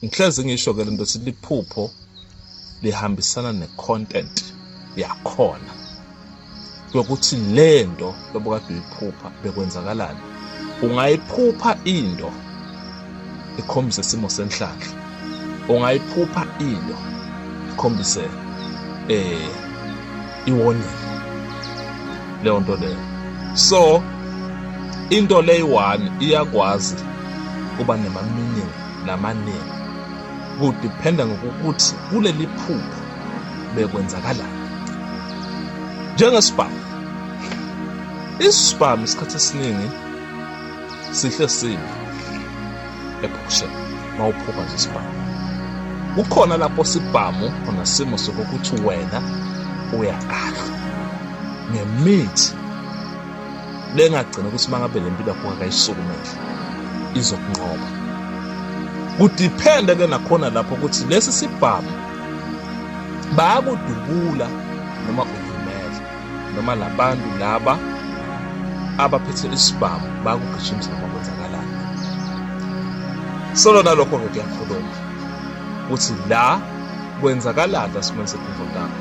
ngihlezi ngisho ke lento sithi liphupho lihambisana ne-content yakhona yokuthi lento lobukade uyiphupha bekwenzakalani ungayiphupha into ikhombise isimo senhlanhla ungayiphupha into ikhombise eh iwonile leyo nto leyo so into leyi-one iyakwazi kuba nemaminingi namaningi kudiphenda ngokukuthi kuleli phupho bekwenzakalani njengesibhamu isibhamu isikhathi esiningi sihle sini ephushe mawuphuka nje isibhamu kukhona lapho sibhamu onesimo sokuthi wena uyagadla ngemithi lengagcina ukuthi mangabe le mpilo yakho akayisukumele izokunqoba kudiphende ke nakhona lapho ukuthi lesi sibhamu bayakudubula noma noma labantu laba abaphethe isibhamu bakugijimisa noma kwenzakalani solona lokho-ke kuyakhuluma ukuthi la kwenzakalani lasimweni sekhumvotanga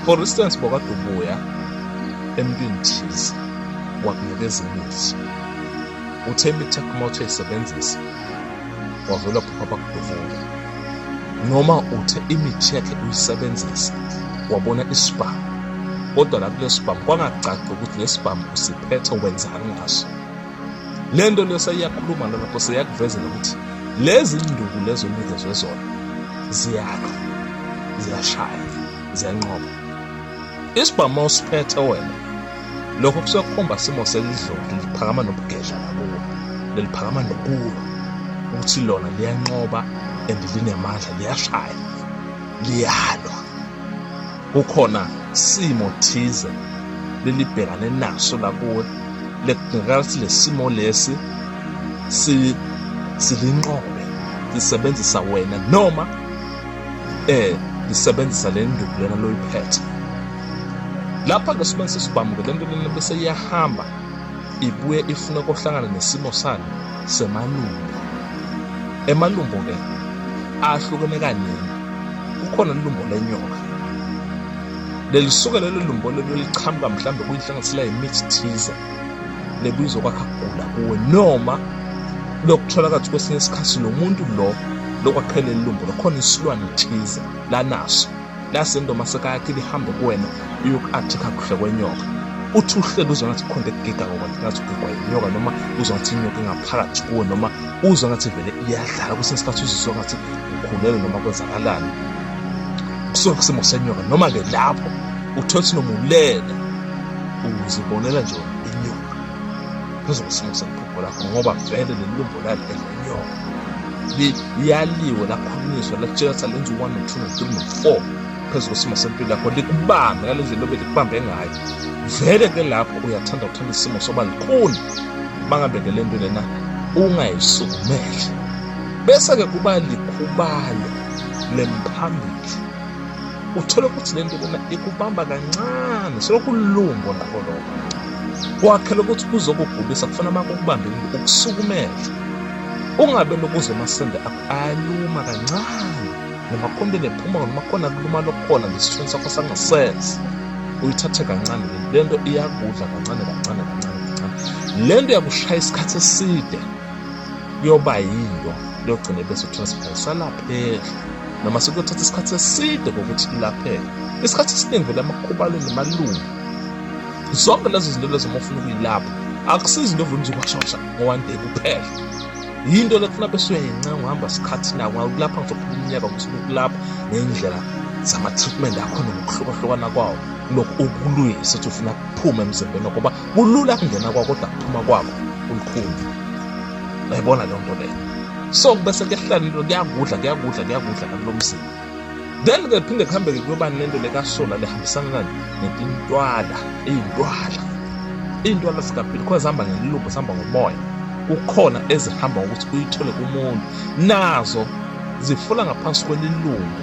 for instance bokadubuya emntwini thize wakunikeza imithi uthe imithi yakhumotho isebenzisa wavele waphupha bakudubula noma uthe imithi yakhe uyisebenzisa wabona isibhamu kodwa la kulesibhamu kwangacaci ukuthi lesibhamu usiphethe wenzani ngaso le nto leyo seyiyakhuluma nalapho seyakuvezela ukuthi lezi nduku lezo unikezwe zona ziyakha ziyashaya ziyanqoba isibhamu usiphethe wena lokho kusuke kukhomba simo selidlodi liphakama nobugedla lakuwo leliphakama nokulwa ukuthi lona liyanqoba and linemandla liyashaya liyalwa kukhona simo thize lelibhekane naso lakuwe lekungekathi lesimo lesi si silinqobe lisebenzisa wena noma eh ngisebenzisa le nduku lena loyiphethe lapha-ke sibone sesibhamuke le nto lena bese iyahamba ibuye ifune kohlangana nesimo sani semalumbo emalumbo-ke ahlukene kaningi kukhona lelumbo lenyoka lelisuke lelo lumbo lelo liqhamuka mhlawumbe kuyihlanganisela yimithi thize lebizo kwakha kugula kuwe noma lokuthola kathi kwesinye isikhathi lo muntu lo lokwaqhela elumbo lokhona isilwane thize lanaso lasendoma sekayakhe lihambe kuwena uyoku-athikha kuhle kwenyoka uthi uhleli uzwa ngathi khonto ekugega ngokwathi ngathi ugegwa yinyoka noma uzwa ngathi inyoka ingaphakathi kuwe noma uzwa ngathi vele iyadlala kwesinye isikhathi uzizwa ngathi ukhulelwe noma kwenzakalani kusuke kusimo senyoka noma-ke lapho uthole ukuthi noma ulele uzibonela nje inyoka phezu kwesinye seliphupho lakho ngoba vele leli lumbo lali elenyoka liyaliwe lakhulunyiswa lakutshela ukuthi alenza u-one no-two no-three no-four phezu kwesimo sempilo yakho likubambe ngale ndlela obe likubambe ngayo vele ke lapho uyathanda ukuthanda isimo soba likuni bangabe ke le nto lena ungayisukumele bese-ke kuba likhubayo lemphambili uthole ukuthi le nto lena ikubamba kancane selokulungo nakho lokho kwakhela ukuthi kuzokugulisa kufuna uma kukubambe ukusukumela ungabe lokuze amasende akho ayaluma kancane noma khona nephuma noma khona kuluma lokhona ngesithweni sakho sangasese uyithathe kancane le nto iyakudla kancane kancane kancane kancane le nto yakushaya isikhathi eside yoba yiyo liyogcina bese utransfer salaphela noma sekuyothatha isikhathi eside ngokuthi ilaphele isikhathi esiningi vele amakhubalo nemalungu zonke lezo zinto lezo uma ufuna ukuyilapha akusizi into ovula uzokwashasha ngo-one day kuphela yinto lekufuna besuyayenca uhamba sikhathi nawo ngakulapha ngizophuma umnyaka ngisuke ukulapha ngendlela zama-treatment akhona ngokuhlukahlukana kwawo lokhu okulwile sethi ufuna kuphume emzimbeni ngoba kulula kungena kwakho kodwa kuphuma kwakho kulukhuni uyayibona leyo nto leyo so kubese kuyahlalilo kuyakudla kuyakudla kuyakudla nakulo mzimba then ke phinde kuhambeke kuyoba nento lekasola lihambisana nani netintwala iy'ntwala iy'ntwala zikaphili khona zihamba ngelilumbo zihamba ngomoya kukhona ezihamba ngokuthi uyithole kumuntu nazo zifula ngaphansi kwelilungu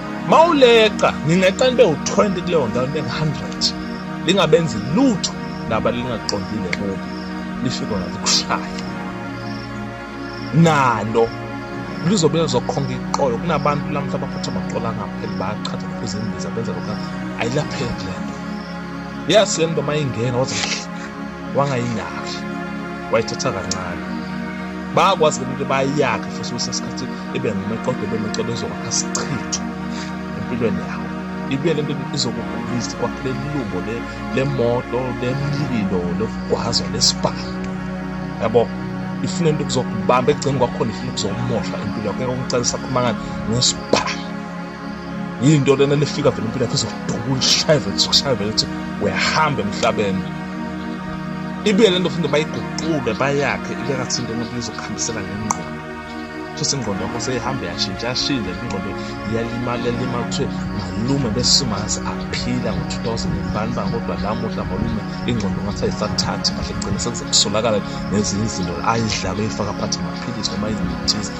mawuleqa ngingeqa nibe u-20 kuleyo ndawo nibe ngu-100 lingabenzi lutho laba lingaqondile kubo lifike ngathi kushaya nalo lizobe lizokhonga iqolo kunabantu lamhla baphatha amaqolo angapheli bayachatha baphuza imbiza benza lokhu ayilapheki le nto yazi le nto uma ingena wathi wangayinaki wayithatha kancane bayakwazi ke ukuthi bayiyakhe futhi kusesikhathi ibe ngumeqodo ibe meqodo ezokwakha sichitho empilweni yawo ibuye le nto izokugulisa kwakhele lilumbo lemoto lemlilo lokugwaza lesibhamu yabo ifuna into kuzokubamba ekugceni kwakhona ifuna ukuzomosha impilo yakho ngeke umcela isakhuluma ngani ngesibhamu yinto lena lefika vele impilo yakho izoduka ulishaye vele sikushaye vele ukuthi uyahamba emhlabeni ibuye le nto futhi bayiguqule bayakhe ibe ngathi into umuntu izokuhambisela ngengqondo futhi ingqondo yakho seyihamba yashintsha yashintsha ingqondo iyalimala yalimala kuthiwe malume besimazi aphila ngo-2000 bani ba kodwa lamuhla malume ingqondo ngathi ayisathathi kahle kugcina sekuzokusolakala nezinye izinto ayidlalo eyifaka phathi amaphilisi noma izinto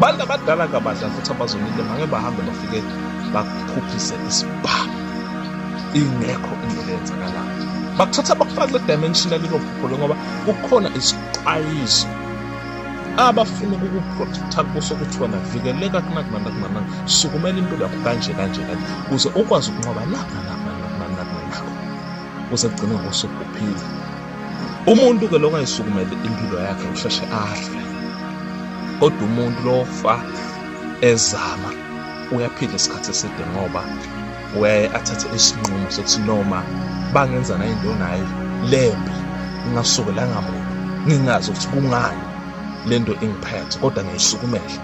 bantu abadala kabadla futhi abazonile bange bahambe bafike bakuphuphise isibhamu ingekho into eyenzakalayo bakuthatha bakufake dimension elilophuphule ngoba kukhona isixwayiso abafuna ukukuprotecta kuso ukuthi wena vikeleka kunakunana kunana sukumela impilo yakho kanje kanje kanje ukuze ukwazi ukunqoba lapha lapha kuze kugcine ngosuku uphila umuntu ke lokho ayisukumele impilo yakhe usheshe afe kodwa umuntu lofa ezama uyaphila isikhathi eside ngoba uyaye athathe isinqumo sokuthi noma bangenzana into nayo lembi ngingasukelanga muntu ngingazi ukuthi kungani lento ingiphethe kodwa ngiyisukumele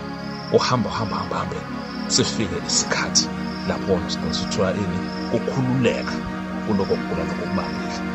uhamba hamba hamba hambe sifike isikhathi lapho sithola ini ukukhululeka kuloko kugula lokubambile